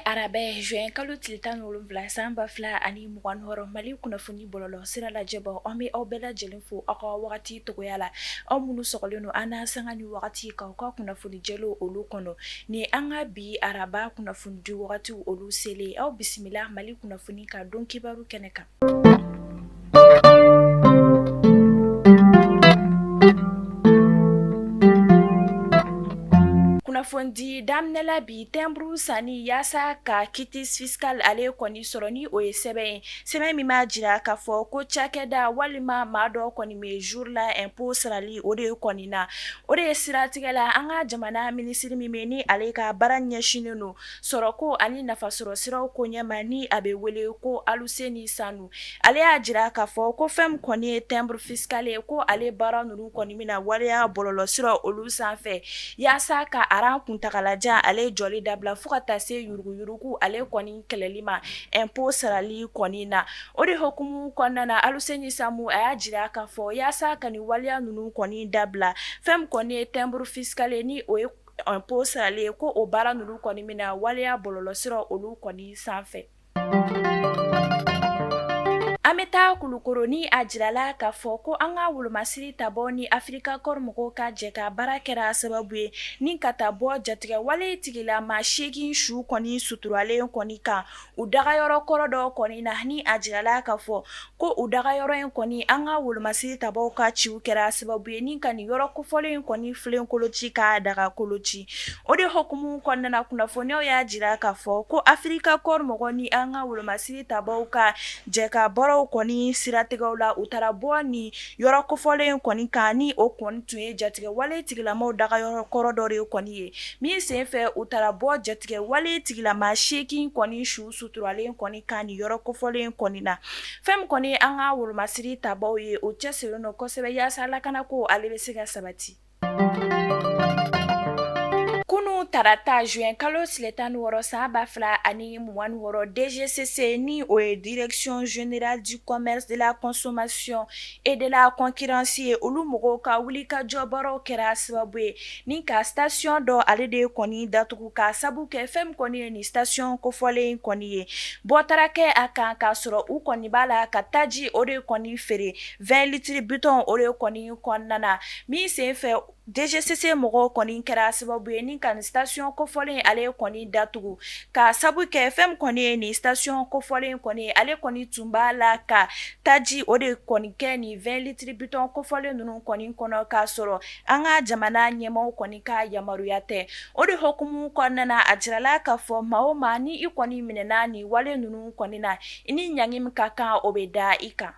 arabɛ juin kalo tile tan ni wolonwula san ba fila ani mugan wɔɔrɔ mali kunnafoni bɔlɔlɔ sira lajɛbɔ an bɛ aw bɛɛ lajɛlen fo aw ka wagati togoya la aw minnu sɔgɔlen don an na sanga ni wagati ka ka kunnafoni jɛlenw olu kɔnɔ ni an ka bi araba kunnafoni di wagati olu selen aw bisimila mali kunnafoni ka don kibaru kɛnɛ kan kunnafoni daminɛla bi timbre sanni yaasa ka quitus fiscal ale kɔni sɔrɔ ni o ye sɛbɛn ye sɛbɛn min b'a jira k'a fɔ ko cakɛda walima maa dɔ kɔni bɛ jour la impôt sarali o de kɔni na, o de ye siratigɛ la an ka jamana minisiri min bɛ yen ni ale ka baara ɲɛsinnen don sɔrɔko ani nafasɔrɔsiraw ko ɲɛma ni a bɛ wele ko Aluseni Sanu, ale y'a jira k'a fɔ ko fɛn min kɔni ye timbre fiscal ye ko ale baara ninnu kɔni bɛna waleya bɔlɔlɔsiraw olu sanfɛ yaasa ka rang kuntaagalajan ale jɔli dabila fo ka taa se yuruguyurugu ale kɔni kɛlɛli ma impôt sarali kɔni na o de hukumu kɔnɔna na Aluseni Sanu a y'a jira k'a fɔ yaasa ka nin waleya ninnu kɔni dabila fɛn min kɔni ye timbre fiscal ye ni o ye impôt sarali ye ko o baara ninnu kɔni bɛna waleya bɔlɔlɔsiraw olu kɔni sanfɛ an bɛ taa kulukɔrɔ ni a jirala k'a fɔ ko an ka wolomasiri tabaaw ni Africa Corps mɔgɔw ka jɛkabaara kɛra sababu ye ni ka taa bɔ jatigɛwale tigilama seegin su kɔni suturalen kɔni kan u daga yɔrɔ kɔrɔ dɔ kɔni na ni a jirala k'a fɔ ko u daga yɔrɔ in kɔni an ka wolomasiri tabaaw ka ci kɛra sababu ye ni ka nin yɔrɔ kofɔlen in kɔni filenkolo ci ka dagakolo ci o de hukumu kɔnɔna na kunnafoniw y'a jira k'a fɔ ko Africa Corps mɔgɔ ni an ka wolomasiri tabaaw ka jɛkabaaraw kɔni siratigɛ la u taara bɔ ni yɔrɔ kofɔlen in kɔni kan ni o kɔni tun ye jatigɛ wale tigilamaw daga yɔrɔ kɔrɔ dɔ de kɔni ye min sen fɛ u taara bɔ jatigɛ wale tigilama seegin kɔni su suturalen kɔni kan ni yɔrɔ kofɔlen in kɔni na fɛn min kɔni an ka wolomasiri tabaaw ye u cɛsirilen don kosɛbɛ yaasa lakana ko ale bɛ se ka sabati tarata juin kalo tile tan wɔɔrɔ san ba fila ani mugan wɔɔrɔ DGCC ni o ye Direction Générale du Commerce de la Consommation et de la Concurrence ye olu mɔgɔw ka wulikajɔ baaraw kɛra sababu ye ni ka station dɔ ale de ye kɔni datugu ka sabu kɛ fɛn min kɔni ye nin station kofɔlen in kɔni ye bɔ taara kɛ a kan k'a sɔrɔ u kɔni b'a la ka taji o de kɔni feere vingt litres bitɔn o de kɔni kɔnɔna na min sen fɛ DGCC mɔgɔw kɔni kɛra sababu ye ni ka nin station kofɔlen ale kɔni datugu ka sabu kɛ fɛn min kɔni ye nin station kofɔlen kɔni ale kɔni tun b'a la ka taji o de kɔni kɛ nin vingt litres bitɔn kofɔlen ninnu kɔni kɔnɔ k'a sɔrɔ an ka jamana ɲɛmaaw kɔni ka yamaruya tɛ o de hukumu kɔnɔna na a jirala k'a fɔ maa o maa ni i kɔni minɛna ni wale ninnu kɔni na i ni ɲangi min ka kan o bɛ da i kan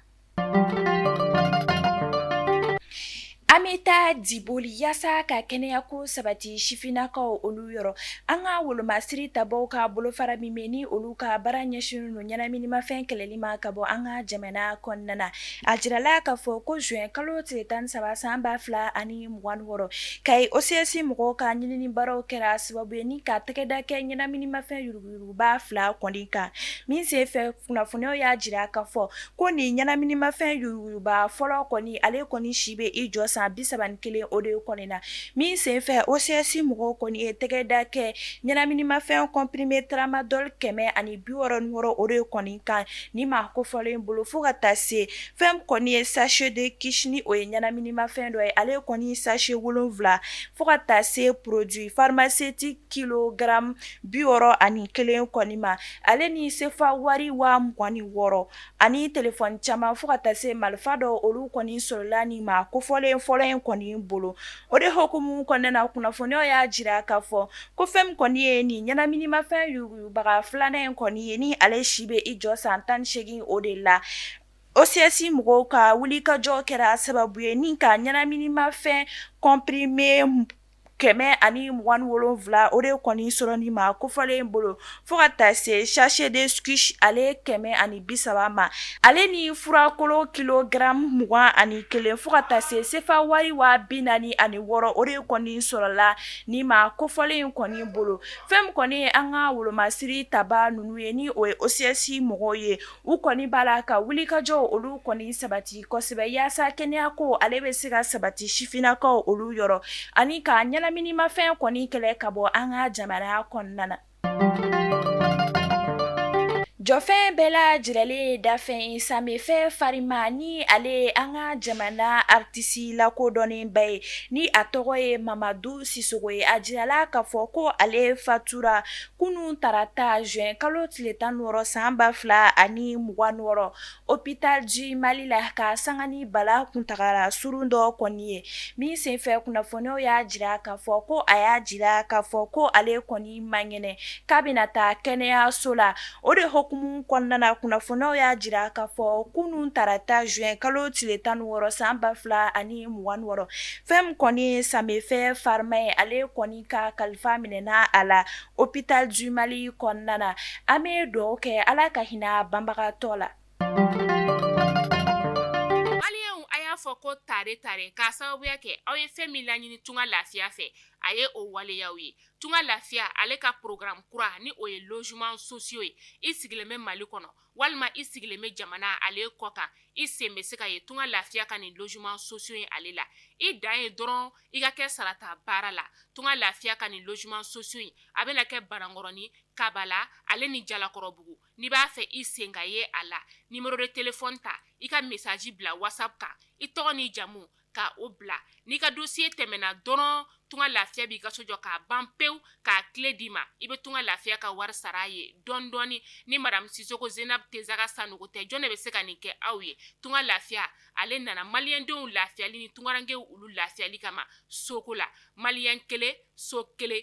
An bɛ taa Diboli yaasa ka kɛnɛyako sabati sifinnakaw olu yɔrɔ an ka wolomasiri tabaw ka bolofara min ni olu ka baara ɲɛsinnen don ɲɛnaminimafɛn kɛlɛli ma ka bɔ an ka jamana kɔnɔna na a jirala k'a fɔ ko zuwɛn kalo tile tan saba san ba fila ani mugan ni wɔɔrɔ Kayi OCS mɔgɔw ka ɲinini baaraw kɛra sababu ye ni ka tɛgɛda kɛ ɲɛnaminimafɛn yuruguyurugu ba fila kɔni kan min sen fɛ kunnafoniw y'a jira k'a fɔ ko nin ɲɛnaminimafɛn yuruguyuruguba fɔlɔ kɔni ale kɔni si bɛ i jɔ san bi saba kelen o de kɔni na min senfɛ OCS mɔgɔw kɔni ye tɛgɛda kɛ ɲɛnaminimafɛn comprimé tramadol kɛmɛ ani bi wɔɔrɔ o de kɔni kan nin maa kofɔlen in bolo fo ka taa se fɛn min kɔni ye sachet de kush ni o ye ɲɛnaminimafɛn dɔ ye ale kɔni sachet wolonwula fo ka taa se produit pharmaceutique kilogramme bi wɔɔrɔ ani kelen kɔni ma ale ni sefa wari waa mugan ni wɔɔrɔ ani telefɔni caman fo ka taa se marifa dɔ olu kɔni sɔrɔla nin maa kofɔlen fɔlɔ in kɔni bolo o de hukumu kɔnɔna na kunnafoniw y'a jira k'a fɔ ko fɛn min kɔni ye nin ɲɛnaminimafɛn yuruguyurugubaga filanan in kɔni ye ni ale si bɛ i jɔ san tan ni seegin o de la OCS mɔgɔw ka wulikajɔ kɛra sababu ye ni ka ɲɛnaminimafɛn comprimé kɛmɛ ani mugan wolonwula o de kɔni sɔrɔ nin maa kofɔlen in bolo fo ka taa se sachet de kush ale kɛmɛ ani bi saba ma ale ni furakolo kilogramme mugan ani kelen fo ka taa se sefa wari waa bi naani ani wɔɔrɔ o de kɔni sɔrɔla nin maa kofɔlen in kɔni bolo fɛn min kɔni ye an ka wolomasiri taba ninnu ye ni o ye OCS mɔgɔw ye u kɔni b'a la ka wulikajɔw olu kɔni sabati kosɛbɛ yaasa kɛnɛyako ale bɛ se ka sabati sifinnakaw olu yɔrɔ ani ka ɲɛnaminimafɛn kɔni kɛlɛ ka bɔ an ka jamana kɔnɔna na jɔfɛn bɛɛ lajɛlen ye dafɛn ye sanfɛ farima ni ale ye an ka jamana aritisi lakodɔnnenba ye ni a tɔgɔ ye Mamadu Sisɔkɔ ye a jirala k'a fɔ ko ale fatura kunun tarata juin kalo tile tan wɔɔrɔ san ba fila ani mugan wɔɔrɔ hôpital du Mali la ka sanga ni bana kuntagala surun dɔ kɔni ye min senfɛ kunnafoniw y'a jira k'a fɔ ko a y'a jira k'a fɔ ko ale kɔni man kɛnɛ k'a bɛna taa kɛnɛyaso la o de hukumu kɔnɔna kunnafoniw y'a jira k'a fɔ kunun tarata juin kalo tile tan wɔɔrɔ san ba fila ani mugan wɔɔrɔ fɛn kɔni ye sanfɛ farima ye ale kɔni ka kalifa minɛna a la hôpital du Mali kɔnɔna na an bɛ dugawu kɛ Ala ka hinɛ banbagatɔ la maliyɛnw a y'a fɔ ko tare tare k'a sababuya kɛ aw ye fɛn min laɲini tunga lafiya fɛ a ye o waleya aw ye tunga lafiya ale ka programme kura ni o ye logements sociaux ye i sigilen bɛ Mali kɔnɔ walima i sigilen bɛ jamana ale kɔ kan i sen bɛ se ka ye tunga lafiya ka nin logements sociaux in ale la i dan ye dɔrɔn i ka kɛ sarata baara la tunga lafiya ka nin logements sociaux in a bɛna kɛ Banankɔrɔni Kabala ale ni Jalakɔrɔbugu n'i b'a fɛ i sen ka ye a la numéro de téléphone ta i ka message bila WhatsApp kan i tɔgɔ ni jamu ka o bila n'i ka dossier tɛmɛna dɔrɔn tunga lafiya b'i ka so jɔ k'a ban pewu k'a clé d'i ma i bɛ tunga lafiya ka wari sara a ye dɔɔni dɔɔni ni madame Sisoko Zenab Tesaga Sanogo tɛ jɔn de bɛ se ka nin kɛ aw ye tunga lafiya ale nana maliyɛndenw lafiyali ni tungarankew olu lafiyali kama soko la maliyɛn kelen so kelen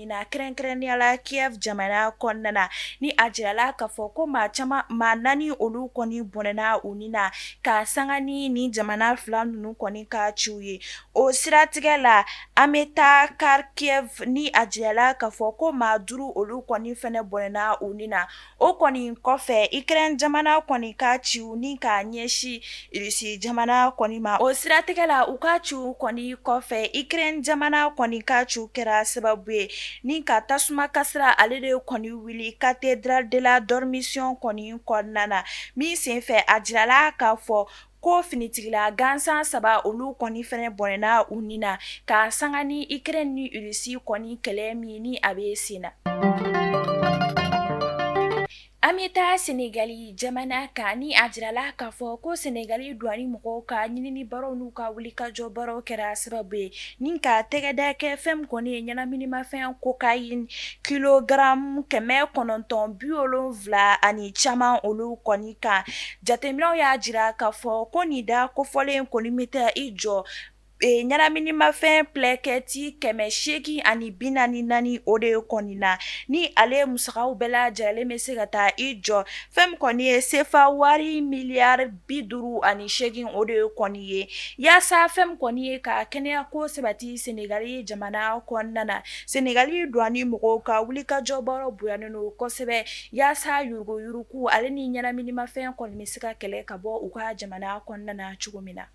na kɛrɛnkɛrɛnnenya la Kiev jamana kɔnɔna na ni a jirala k'a fɔ ko maa caman maa naani olu kɔni bɔnɛna u ni na ka sanga ni nin jamana fila ninnu kɔni ka ciw ye o siratigɛ la an bɛ taa Kharkiv ni a jirala k'a fɔ ko maa duuru olu kɔni fɛnɛ bɔnɛna u ni na O kɔni kɔfɛ Ukraine jamana kɔni ka ciw ni k'a ɲɛsin Rusi jamana kɔni ma o siratigɛ la u ka ciw kɔni kɔfɛ Ukraine jamana kɔni ka ciw kɛra sababu ye ni ka tasuma kasira ale de kɔni wuli cathédrale de la Dormition kɔni kɔnɔna na min senfɛ a jirala k'a fɔ ko finitigila gansan saba olu kɔni fɛnɛ bɔnɛna u ni na ka sanga ni Ukraine ni Rusi kɔni kɛlɛ min ni a bɛ sen na an bɛ taa sɛnɛgali jamana kan ni a jirala k'a fɔ ko sɛnɛgali douane mɔgɔw ka ɲinini baaraw n'u ka wulikajɔ baaraw kɛra sababu ye ni ka tɛgɛda kɛ fɛn kɔni ye ɲɛnaminimafɛn cocaïne kilogramme kɛmɛ kɔnɔntɔn bi wolonwula ani caman olu kɔni kan Jateminɛw y'a jira k'a fɔ ko nin da kofɔlen kɔni bɛ taa i jɔ ee ɲɛnaminimafɛn plɛkɛti 800 ani 44 o de kɔni na, ni ale musakaw bɛɛ lajɛlen bɛ se ka taa i jɔ fɛn min kɔni ye sefa wari miliyari 58 o de kɔni ye yasa fɛn min kɔni ye ka kɛnɛyako sabati Senegali jamana kɔnɔna na, Senegali douane mɔgɔw ka wulikajɔbaaraw bonyalen don kosɛbɛ. Yasa yuruguyurugu ale ni ɲɛnaminimafɛn kɔni bɛ se ka kɛlɛ ka bɔ u ka jamana kɔnɔna na cogo min na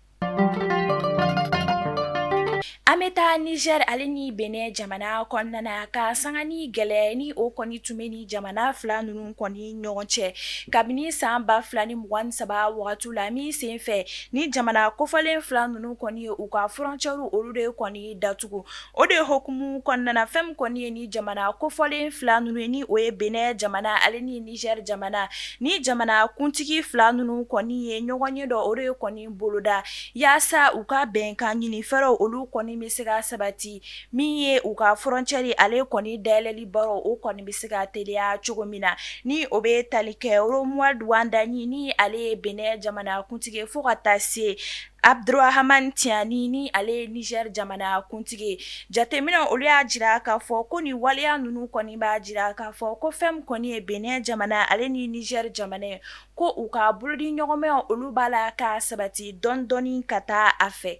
an bɛ taa Niger ale ni Benin jamana kɔnɔna na ka sanga ni gɛlɛya ni o kɔni tun bɛ ni jamana fila ninnu kɔni ɲɔgɔn cɛ kabini san 2023 wagati la min sen fɛ ni jamana kofɔlen fila ninnu kɔni ye u ka frontière olu de kɔni datugu O de hukumu kɔnɔna na fɛn min kɔni ye ni jamana kofɔlen fila ninnu ye ni o ye Benin jamana ale ni Niger jamana ni jamanakuntigi fila ninnu kɔni ye ɲɔgɔnye dɔ o de kɔni boloda yasa u ka bɛnkan ɲini fɛɛrɛw olu kɔni bɛ se ka sabati min ye u ka frontière ale kɔni dayɛlɛli baara o kɔni bɛ se ka teliya cogo min na ni o bɛ tali kɛ Romuald Wadagni ni ale ye Benin jamanakuntigi ye fo ka taa se Abdourahamane Tiani ni ale ye Niger jamana kuntigi ye, jateminɛw olu y'a jira k'a fɔ ko nin waleya ninnu kɔni b'a jira k'a fɔ ko fɛn min kɔni ye Benin jamana ale ni Niger jamana ye ko u ka bolodiɲɔgɔnmaw olu b'a la ka sabati dɔɔnin dɔɔnin ka taa a fɛ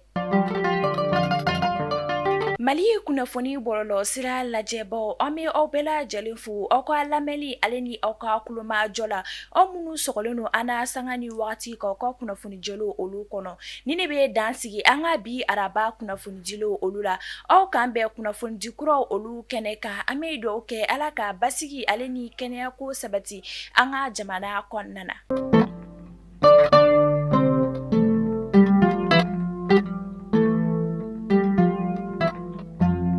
Mali kunnafoni bɔlɔlɔsira lajɛbaaw an bɛ aw bɛɛ lajɛlen fo aw ka lamɛnni ale ni aw ka kulomajɔ la, aw minnu sɔgɔlen don an na sanga ni wagati k'aw ka kunnafoni jɛlenw olu kɔnɔ nin de bɛ dan sigi an ka bi araba kunnafonidiw olu la aw k'an bɛn kunnafonidi kuraw olu kɛnɛ kan an bɛ dugaw kɛ Ala ka basigi ale ni kɛnɛya ko sabati an ka jamana kɔnɔna na